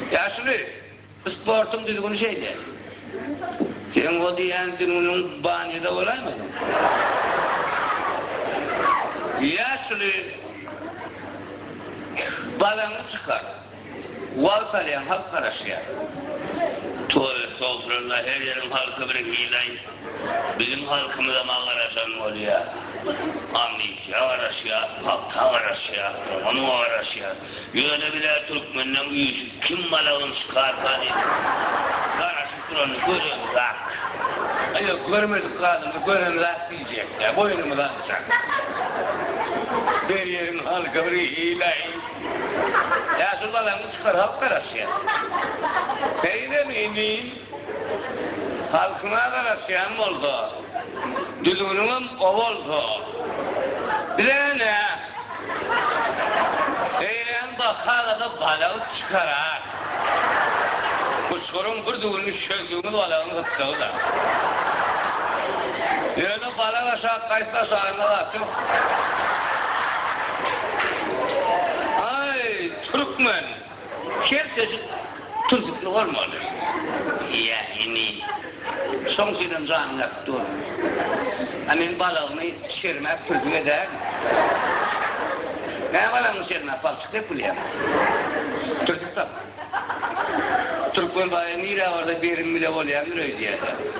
Ýaşuly, sportuň düzgüni şeýle. Seň o diýýän düňňüň banýada bolaýmy onuň? Ýaşuly, balaňy çykar. Wagt alýaň, halk garaşýar. Toý, sofrada her ýeriň halky bir hil-aý. Biziň halkymyzam agaraşan bolýar. Amytja garaşýar, pagta garaşýar, dogan garaşýar. Ýöne bile türkmenleň üýşi kim malagyn şykarka diýip garaşyp duranyny gören zat. A ýok görmedik zadymyzy gören zat diýjekdä boýnumyz alçak. Berýeriň halka bir hilaý. Ýaşuly balaňy çykar halk garaşýar. Seýdem emin. Halkyňa garaşýan bolsa, düzgüniňem o bolsa, bize ne? Eýlän baka-da balagy çykarar. Guçguryň bir düwünini şöldügiňiz balagyň gytdygy-da. Ýöne balag aşa gaýsy aşagynda gaçyp, Aý, türkmen! Her çeşit tuzlukly bolmaly. Ýa emi, şoň üçinem janyň ýatyp dur. A men balagymy şermäp pürjük edärin. Näme balagyňy şermäp palçyk dep bilýäň? Pürjük tapma. Türkmen baýy nire barsa berim bile bolýandyr öýdýäler.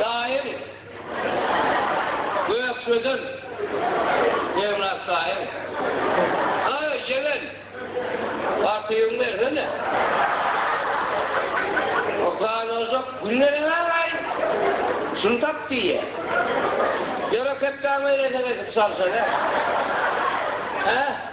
Daýaw, Gökdejen, Jemlat daýaw. Haý, ýegen, artygyňy bersene. Utanajak günde näme gaýyp, şuny tap diýýä. Ýöre, kepkäňi elesek edip salsana. Hä?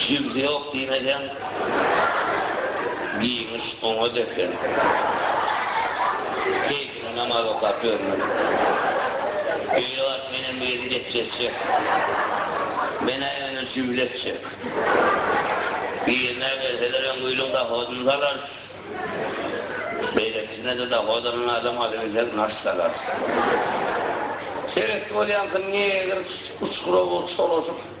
Jigdi ýok diýmeseň, giňiş oňa depin. Keýpini namaz okap ýörmün. Öýe baryp menem bir ýerini geçje etjek. Men-ä ýöne jübli etjek. Birine berseler öň öýlüň dohodyny salarys. Beýlekisine-de dohod alan adam alybilsek naş salarys. Sebetli bolýansyň, negr uçgura bolup şolaşyp.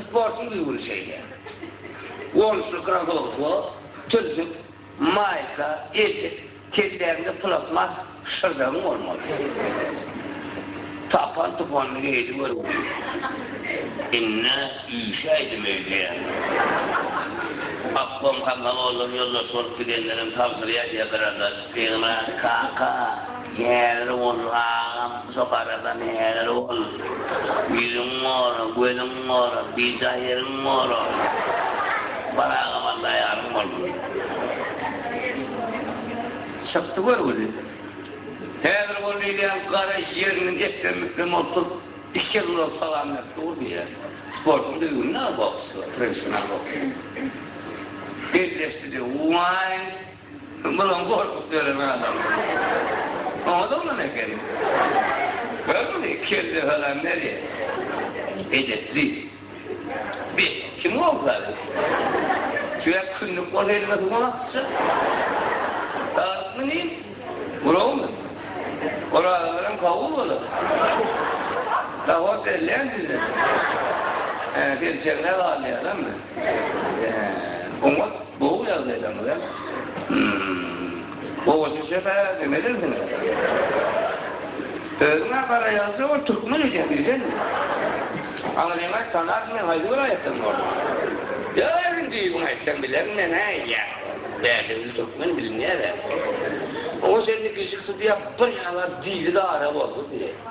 Sportuň düzgüni şeýle. Gonuşly krossowka, türsük, maýka, eşik, kelläňde plastmas şyrdagyň bolmaly. Tapan-tupanyny geýdi görgüli. Indi üýşäýdim öýdýä. Obkom kangal bollar, ýoldaş bolup gidenlerem tabşyrýar ýa bir adat, ýa-da kaka. Häzir bol, agam, şo garadan häzir bol. Ýüzüň gora, gözüň gora, bijaý ýeriň gora. Bar agam Alla ýaryň bolsun. Çykdy görgüli. Häzir bol diýilýän gara ýeriniň eklem-miklem bolsup, iki ýer ulag salam berip dur diýýär. Sportuň düzgüni-dä boks, professional boks. Elleşdi-de, Waý! Munuň gorkup dörän adamy oňat oglan ekeni. Gör muny, kelle salam berýär. Edepli. Bes, kim gowşady? Tüwek kündük bolsa elime suwuň aksa. Galypmy nim? Burawmy? Orazalaram kabul bolar. Nahor berlän size? Hä, selçegine galýalammy? Oňat gowy ýagdaýdaňyz a. Gowa düşe bä demelisiňiz. Özüňä garaýança ol türkmen eken diýseň. Aňryňa tanap men haýsy welaýatdan boldum. Ýöräýiň düýbüňi aýtsaň bilerin men hä ýa. Bädewi türkmen bilinýär hä. Gowa sen de gijik sypýap bir ýaňa dili gara boldy diýe.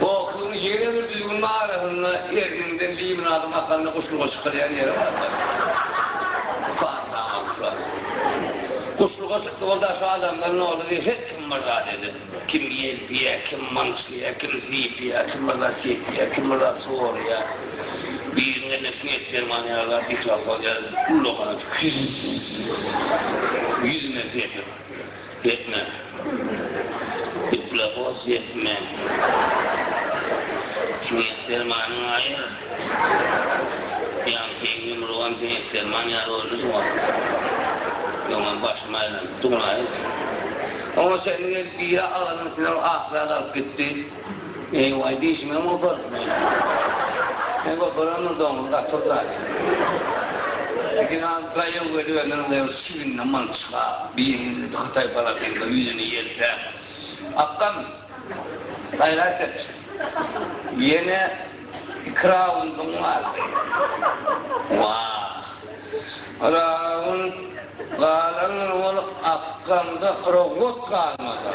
Boksuň ýene bir düýbüniň arasynda erniňden limonadym akanda guşluga çykylýan ýere barsak, Fata Akswell. Guşluga çykdy boldy, aşa adamlar nolady, her kim bir zat eder. Kim ýelpýär, kim myňşlýar, kim sypýar, kim bir zat çekýär, kim bir zat sorýar. Birinden-de swiet derman ýaly diktofon ýa-da ullakan atyp, Hüýz! Ýüzüme sepiň! Gepme. Gepla bos gepme. Siňek dermanyň aýyr. Ýaňky iň ýumrugam siňek derman ýaly boldy şuňa. Öňem başym aýlanypdy muňa. Oňa çenli gelip biri agasynyň üstünden ahlak alyp gitdi. Eý-waý, dişimem gopardy meniň. Sen goparandyr, doňuz gatyr zat. Biraz gaýyň gözüňiň bir çiginden malçyga, biriňiz indi hytaý balasynyňda ýüzüni ýelpäp, akgam, gaýrat et. Ýene iki raundyň galdy. Wah! Raund galan bolup, akgamda krowgot galmady.